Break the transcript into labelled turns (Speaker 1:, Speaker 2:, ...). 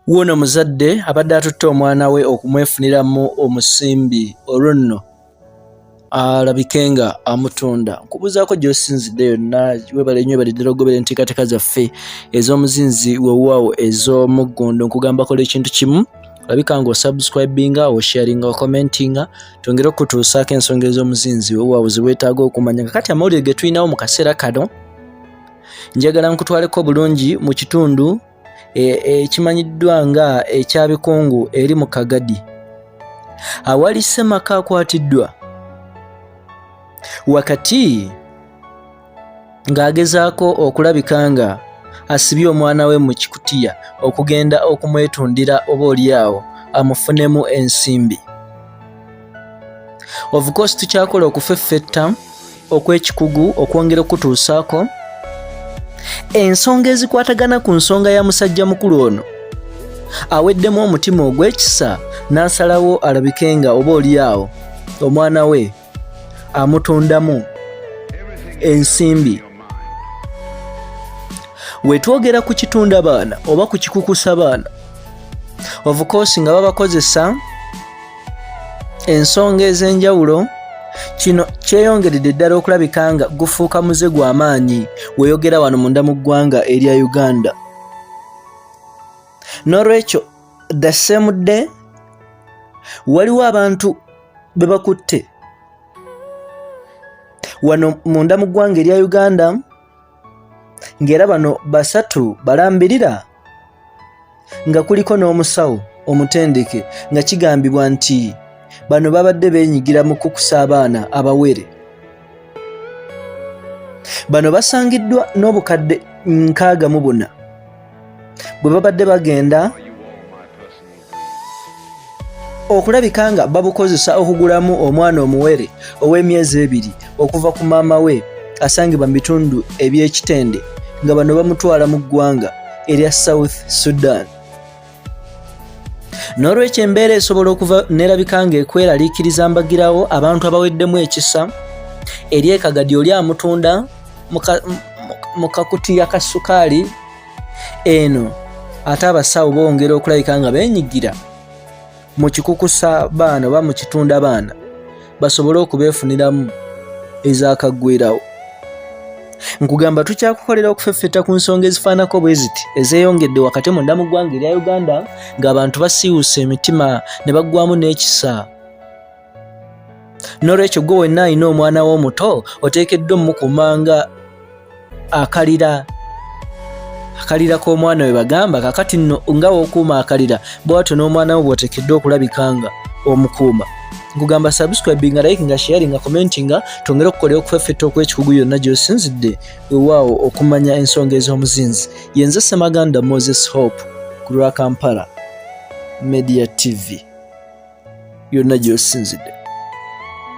Speaker 1: wuuno muzadde abadde atutte omwana we okumwefuniramu omusimbi olwo nno alabike nga amutunda nkubuuzaako gyosinzidde yonna webale nyo baliddala okugobera enteekateeka zaffe ez'omuzinzi wewaawo ez'omuggundo nkugambako lwa ekintu kimu olabika nga osubscribinga osharinga okomentinga twongere okutuusaako ensonga ez'omuzinzi wewaawo zewetaaga okumanya kakati amawulire getulinawo mu kaseera kano njagala nkutwaleko bulungi mu kitundu e, ekimanyiddwa e, nga ekyabikungu eri mu kagadi awali semaka akwatiddwa wakati ng'agezaako okulabika nga asibye omwana we mu kikutiya okugenda okumwetundira oba olyawo amufunemu ensimbi of course tukyakola okufeffetta okwekikugu okwongera okutuusaako ensonga ezikwatagana ku nsonga ya musajja mukulu ono aweddemu omutima ogw'ekisa n'asalawo alabike nga oba oliyaawo omwana we amutundamu ensimbi wetwogera ku kitunda baana oba ku kikukusa baana ovukosi nga babakozesa ensonga ez'enjawulo kino kyeyongeredde ddala okulabika nga gufuuka muze gwa maanyi weyogera wano munda mu ggwanga erya uganda n'olwekyo the same day waliwo abantu be bakutte wano munda mu ggwanga erya uganda ng'era bano basatu balambirira nga kuliko n'omusawo omutendeke nga kigambibwa nti bano babadde beenyigira mu kukusa abaana abawere bano basangiddwa n'obukadde nkaaga mu buna bwe babadde bagenda okulabika nga babukozesa okugulamu omwana omuwere ow'emyezi ebiri okuva ku maama we asangibwa mu bitundu eby'ekitende nga bano bamutwala mu ggwanga erya south sudan n'olwekyo embeera esobola okuva nerabika nga ekweraliikiriza mbagirawo abantu abaweddemu ekisa eri ekagadi oli amutunda mu kakutiya ka sukaali eno ate abasawo bongera okulabika nga benyigira mu kikukusa baana oba mu kitunda baana basobole okubeefuniramu ezakagwirawo nkugamba tukyakukolera okufeffeta ku nsonga ezifaanako bwe ziti ezeeyongedde wakati munda mu ggwanga erya uganda ng'abantu basiiwusa emitima ne baggwamu n'ekisa nolwekyo gwe wenna alina omwana wo omuto oteekeddwa omukumanga akalira akalira k'omwana we bagamba kakati nno nga wokuuma akalira bwatyo n'omwana wo bwotekeddwa okulabikanga omukuuma nkugamba subscribing nga like nga sharing nga commenting nga tongera okukolera okufeffetta okwekikugu yonna gyosinzidde wewaawo okumanya ensonga ez'omuzinzi yenze semaganda moses hope ku lwa kampala media tv yonna gy'osinzidde